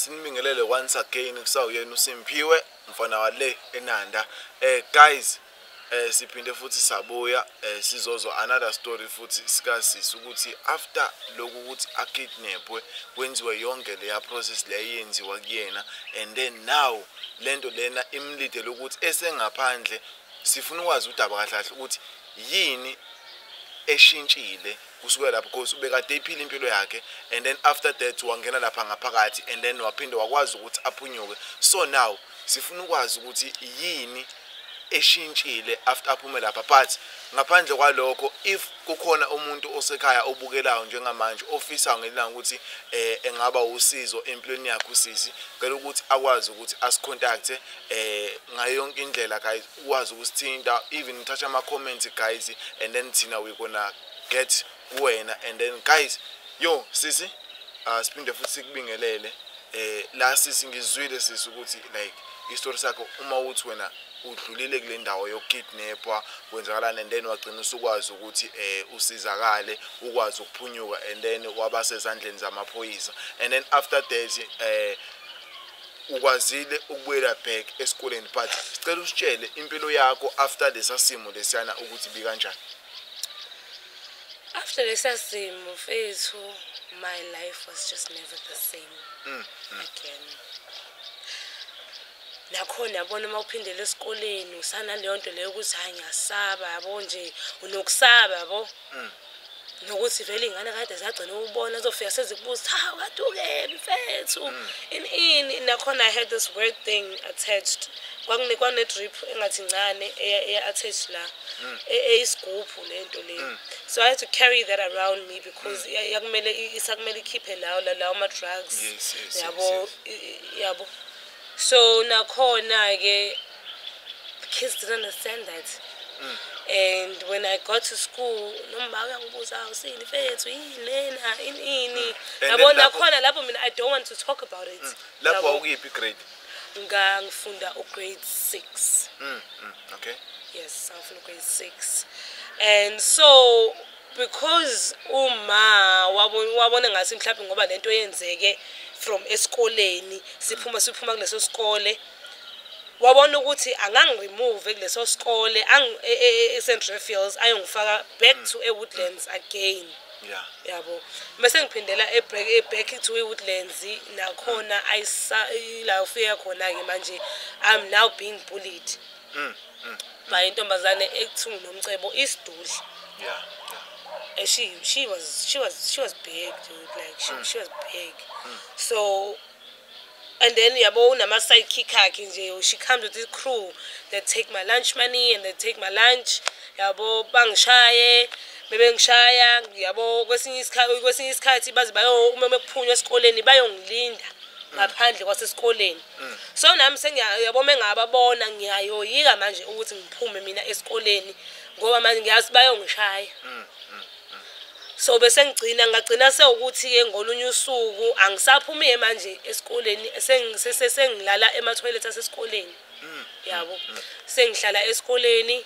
simbingelele once again kusawuyena uSimphiwe mfana wale eNanda eh guys eh siphinde futhi sabuya eh sizozwa another story futhi sikasisi ukuthi after lokhu ukuthi akidnapwe kwenziwe yonke leya process leyenziwa kuyena and then now lento lena imlidele ukuthi esengaphandle sifuna ukwazi udaba kahle kahle ukuthi yini eshintshile kusukela lapho because ubekade iphile impilo yakhe and then after that wangena lapha ngaphakathi and then waphinde wakwazi ukuthi aphunyuke so now sifuna ukwazi ukuthi yini eshintshile after aphume lapha but ngaphandle kwalokho if kukhona umuntu osekhaya obukelayo njengamanje ofisa ngelanga ukuthi eh engaba usizo empilweni yakhe usisi ngeke ukuthi akwazi ukuthi asicontact eh ngayo yonke indlela guys ukwazi ukusithinta even ngithatha ama comments guys and then thina we gonna get kuwena and then guys yo sisi uh, siphinde futhi sikubingelele eh la sisi ngizwile sisi ukuthi like istory sakho uma uthi wena udlulile kule ndawo yokukidnapwa kwenzakalani and then wagcina usukwazi ukuthi eh usizakale ukwazi ukuphunyuka and then waba sezandleni zamaphoyisa and then after that eh ukwazile ukubuyela back esikoleni but sicela usitshele impilo yakho after lesa simo lesiyana ukuthi bikanjani after lesa simo mfethu my life was just never the same mm, mm. again nakhona yabona uma uphindela esikoleni usanaleyo nto leyo ukuthi hhayi ngiyasaba yabo nje unokusaba yabo mm. nokuthi vele iy'ngane kade zagcina ukubona zofika sezikubuza ha kade ukephi mfethu mm. ini ini nakhona i had this weird thing attached kwakune kwane drip engathi ncane eya eya attach la mm. e, eyisigubhu lento le mm. so i had to carry that around me because mm. yakumele isakumele ikhiphe lawo lawo ma drugs yabo yabo so nakhona ke kids didn't understand that mm. and when i got to school nomba uyangibuza usini mfethu yini lena ini ini yabo nakhona lapho mina i don't want to talk about it lapho awukiphi grade ngangifunda ugrade six mm, mm, okay yes ngangifunda ugrade six and so because uma wabona ngathi mhlawumbe ngoba le nto yenzeke from esikoleni siphuma siphuma kuleso sikole wabona ukuthi angangiremove kuleso sikole e-, e-, e-, e-st refields ayongifaka back mm. to ewoodlands again yeah yabo bese ngiphindela eback eback to woodlands nakhona ayisa la ufika khona ke manje i'm now being bullied mm, mm. by intombazane ekuthiwa nomcebo isidudla yeah and she she was she was she was big dude like she, mm. she was big mm. so and then yabo unama-side kick akhe nje she comes with this crew they take my lunch money and they take my lunch yabo bangishaye bebengishaya yabo kwesinye isikhathi baze uma bekuphunywa esikoleni bayongilinda ngaphandle kwasesikoleni mm. so nami sengiyabo mengababona ngiyayoyika manje ukuthi ngiphume mina esikoleni ngoba manje ngiyazi bayongishaya mm, mm. so bese ngigcina ngagcina sewukuthi-ke ngolunye usuku angisaphumi-ke manje esikoleni sengilala emathoyilethi asesikoleni mm. yabo mm. sengihlala esikoleni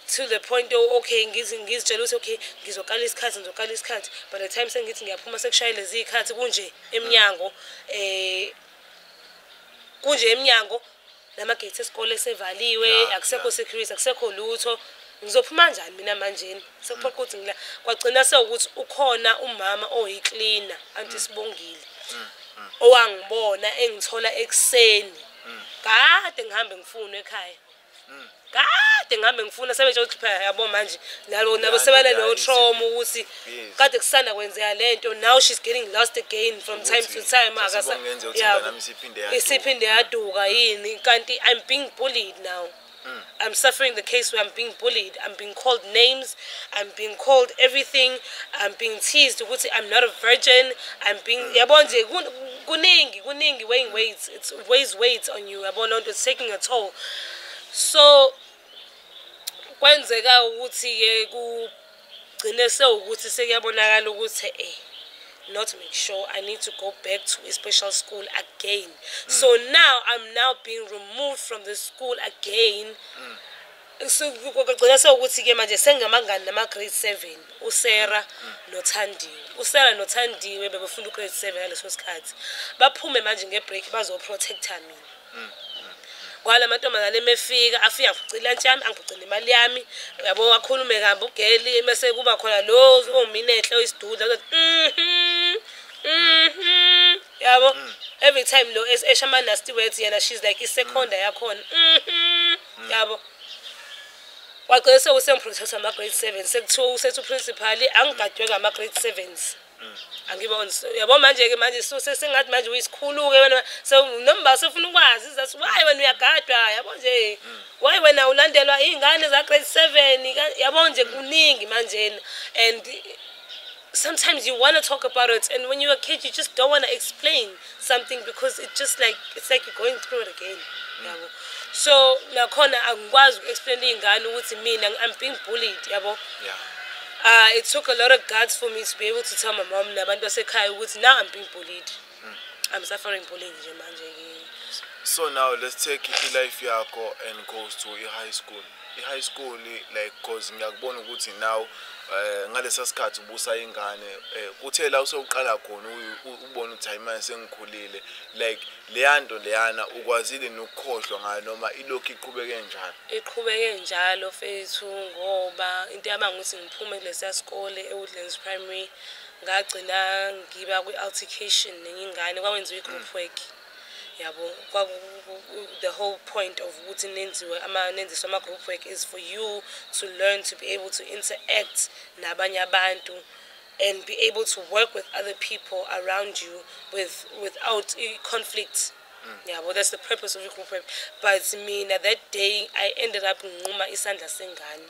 to the point okay ngizitshela ukuthi okay ngizoqala isikhathi ngizoqala isikhathi by the time sengithi ngiyaphuma sekushaye lezi iy'khathi kunje emnyango um kunje emnyango namagate esikole sevaliwe akusekho security akusekho lutho ngizophuma njani mina manjeni sekuphoqa ukuthi ngila kwagcina sewukuthi ukhona umama oyicleaner anti mm. sibongile mm, mm. owangibona engithola ekuseni kade ngihambe ngifuna ekhaya kade ngihambe ngifuna sebenje ukuthi phela yabo manje nalo nabo sebanalo trauma ukuthi kade kusanda kwenzeka lento now she's getting lost again from time to time akasa isiphinde yaduka yini kanti i'm being bullied now Mm. I'm suffering the case where I'm being bullied. I'm being called names. I'm being called everything. I'm being teased. I'm not a virgin. I'm being. Mm. Yabona nje kuningi kuningi weighing weights. It weighs weights on you. Yabona lento it's taking a toll. so kwenzeka ukuthi-ke kugcine sewukuthi sekuyabonakala ukuthi eh not make sure i need to go back to a special school again mm. so now i'm now being removed from the school again mm. kugcina sewukuthi-ke manje sengamangani nama-grade seven usera nothandiwe usera nothandiwe bebefunda ugrade seven ngaleso sikhathi baphume manje nge-break bazoprotecta mina kwala mantombazane emefika afike angiphucile lantshi yami angiphucile imali yami yabo wakhulume kambi ugeli mese kuba khona lo ominehle oyisidudla ozothi mhm mhm yabo mm. every time lo esha ama nasty words yena she's like iseconda mm. yakhona mhm mm. yabo wagcina sewusemprocess ama grade 7 sekuthiwa usethu principal angigadwe ngama grade 7s angiboni yabo manje ke manje suse singathi manje uyisikhulu ke wena so nomba sefuna ukwazi izathu why wena uyagadwa yabo nje why wena ulandelwa izingane za grade 7 yabo nje kuningi manje and sometimes you want to talk about it and when you're a kid you just don't want to explain something because it just like it's like you're going through it again yabo so nakhona angikwazi uku-explainela iy'ngane ukuthi mina i'm being bullied yabo yeah. uh, it took a lot of guts for me to be able to tell my mom nabantu basekhaya ukuthi now i'm being bullied mm. i'm suffering bullying nje manje so now let's take ilife yakho and goes to i-high school i-high school like cause ngiyakubona ukuthi now um ngalesa sikhathi ubusa ingane um kuthe la usewuqala khona ubona ukuthi hayi manje sengikhulile like leya nto leyana ukwazile nokukhohlwa ngayo noma ilokhu iqhubeke njalo iqhubeke njalo fethu ngoba into yaba ngukuthi ngiphume kulesiya sikole ewoodlands primary ngagcina ngiba kwi-altercation nenye ingane kwakwenziwa i-group work yabo the whole point of ukuthi nenziwe ama nenziswe ama group work is for you to learn to be able to interact nabanye abantu and be able to work with other people around you with without conflict mm. yabo that's the purpose of your group work but mina that day i ended up nginquma isandla sengane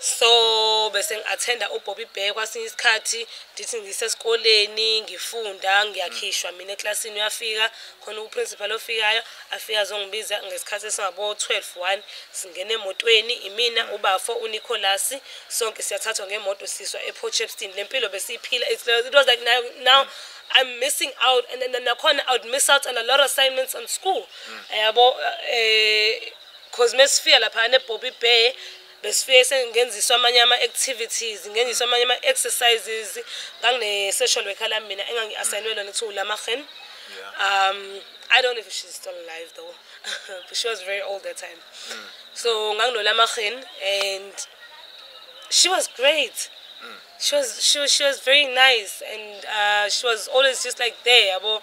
so bese ngi-athenda ubobby bear kwasinye isikhathi ndithi ngisesikoleni ngifunda ngiyakhishwa mina eklasini uyafika khona uprincipal ofikayo afike azongibiza ngesikhathi esingabo-twelve one singena emotweni imina ubafo unicolas sonke siyathathwa ngemoto siswa eport chepston le mpilo besiyiphila it was like now, now I'm missing out and then nakhona I would miss out on a lot of assignments on school mm. yabo mm. eh cause mesifika lapha ne Bobby Bear besifike sengenziswa amanye ama activities ngenziswa amanye ama exercises ngangine social worker la mina engangi assignwe lona kuthiwa uLamagen um I don't know if she's still alive though but she was very old that time mm. so nganginolamagen and she was great mm. she was she was she was very nice and uh, she was always just like there yabo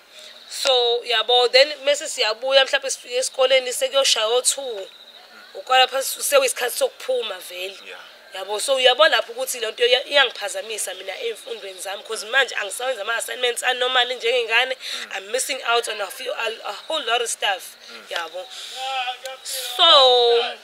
so yabo then mese siyabuya mhlawumbe sifike esikoleni sekuyoshaya o-two ukwala phansi sewisikhathi sokuphuma vele yabo so uyabo lapho ukuthi le nto iyangiphazamisa mina ey'mfundweni zami because manje angisawenza ama-assignments anormali njengengane mm. i'm missing out on a, few, a, a whole lot of stuff mm. yabo so yeah.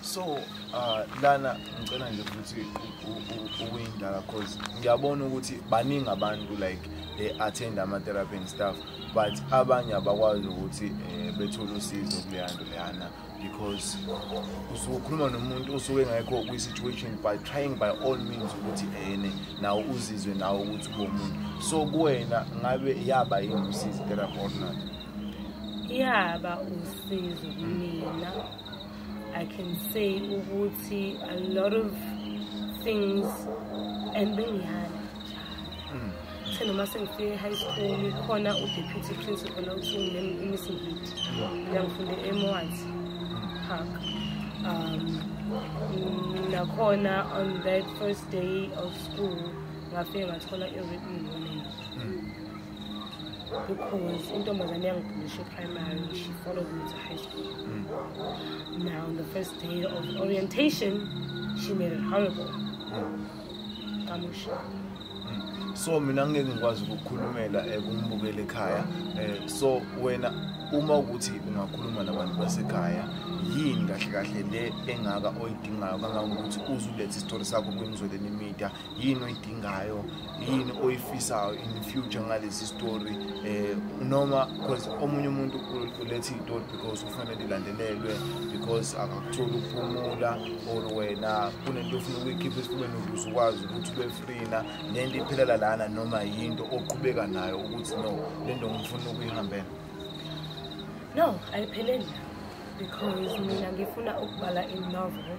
so uh, lana ngicela nje ukuthi ukuyindala cause ngiyabona ukuthi baningi abantu like they attend ama-therapy and stuff but abanye abakwazi ukuthi um bethole usizo kuleya nto leyana because usuke ukhuluma nomuntu osuke engekho kwi-situation by trying by all means ukuthi ene nawo uzizwe nawo ukuthi ubomuntu so kuwena ngabe yaba yini usizi therapy or not yaba usizo kumina I can say ukuthi a lot of things and bengihana hmm. the noma sengifike high school khona udeputy principal awuthi nginemisi ngithi ngiyangifunde emwat park um nakhona on that first day of school ngafike ngathola i-written warning hmm. because intombazane yangibhulisha eprimary she followed me to high school mm. now on the first day of orientation she made it horrible kamusha mm. mm. so mina ngeke ngikwazi ukukhulumela ekumbukela ekhaya eh, so wena uma ukuthi ungakhuluma nabantu basekhaya yini kahle kahle le engaka oyidingayo kangangokuthi uzulethe isitori sakho kwimizweleni media yini oyidingayo yini oyifisayo in the future ngalesi story eh noma because omunye umuntu ulethe itori because ufanele ilandelelwe because akakutholi ukuphumula or wena kunento ofuna ukuyikhipha esifubeni ukuze ukwazi ukuthi ube freena nento iphelela lana noma yinto oqhubeka nayo ukuthi no lento ngifuna ukuyihambela no ayipheleli because mina ngifuna ukubhala inovel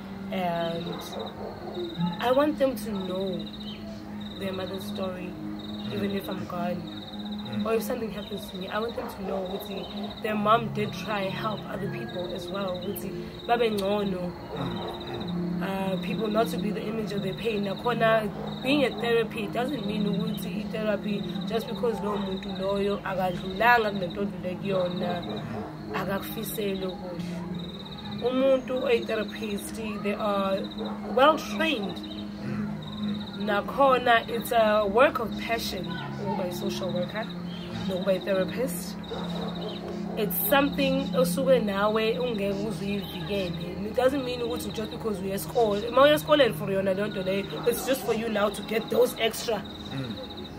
and I want them to know their mother's story, mm. even if I'm gone. Mm. Or if something happens to me, I want them to know ukuthi their mom did try and help other people as well. Ukuthi babe ngcono. Mm. Uh, people not to be the image of their pain. Nakhona being a therapy doesn't mean ukuthi therapy just because lowo muntu loyo akadlulanga kunento odlule kuyona akakufiseli okuhle. umuntu oyi-therapist they are well trained nakhona it's a work of passion ukuba yi-social worker nokuba yi-therapist it's something osuke nawe ungeke uzuyivikele it doesn't mean ukuthi just because uye esikole uma uye esikoleni for yona leyo nto leyo it's just for you now to get those extra mm.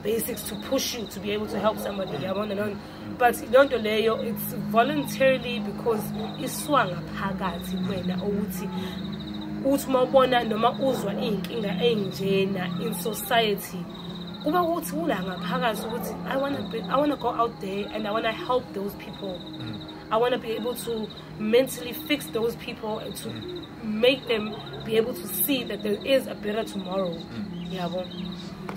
basics to push you to be able to help somebody yabona leyo but leyo nto leyo it's voluntarily because iswanga phakathi kwena ukuthi uthi uma ubona noma uzwa iy'nkinga ey'njena in society kuba ukuthi ula ngaphakathi ukuthi i wanna go out there and i wanna help those people mm. I want to be able to mentally fix those people and to mm. make them be able to see that there is a better tomorrow. Mm. Yabo.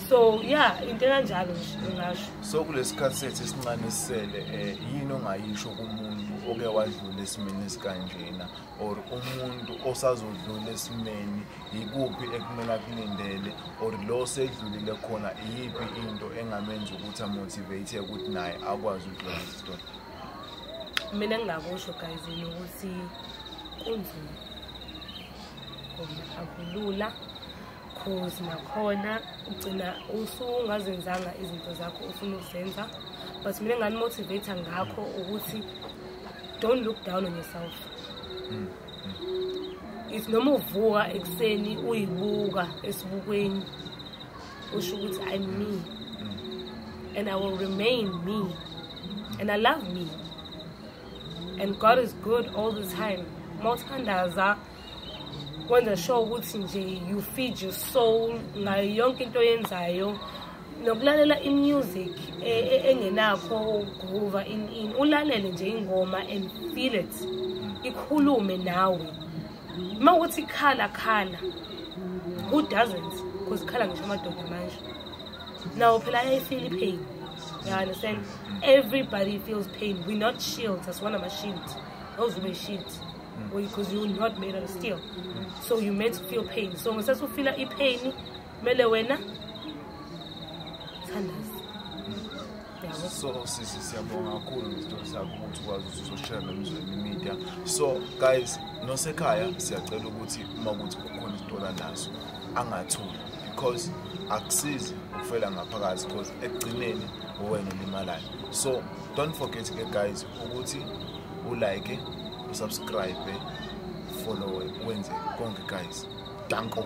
So yeah, into kanjalo ngisho. So kulesikhathi sethu esincane sisele eh yini ongayisho kumuntu oke wadlula esimeni esikanjena or umuntu osazodlula esimeni yikuphi ekumele akulindele or lo sedlulile khona iyiphi into engamenza ukuthi amotivate ukuthi naye akwazi ukudlula isitori. mina ngingakusho guys yini ukuthi kunzima khona akulula cause nakhona ugcina usungazenzanga izinto zakho ufuna ukuzenza but mina nganimotivate ngakho ukuthi don't look down on yourself mm. mm. is noma uvuka ekuseni uyibuka esibukweni usho ukuthi i'm me mm. and i will remain me and i love me and god is good all the time uma uthandaza wenza sure ukuthi nje you feed your soul ngayo yonke into oyenzayo nokulalela imusic e, e, engenakho ukuva in in ulalele nje ingoma and feel it ikhulume nawe uma ukuthi khala khala who doesn't because khala ngisho amadoda manje nawo phela ayayifeel ipain you understand everybody feels pain we not shields asiwona ama-shield awuzuba i-shield because you not made of steel so you meant to feel pain so ngesathi ufila ipain kumele wena thandaza so sisi siyabonga kakhulu ngezitori zakho ukuthi ukwazi ukuthi uzoshare nomzweni media so guys nosekhaya siyacela ukuthi uma ukuthi kukhona isitola naso angathuli because akusizi ukufela ngaphakathi because ekugcineni uwena olimalayo so don't forget ke guys ukuthi ulike usubscribe follow wenze konke guys danko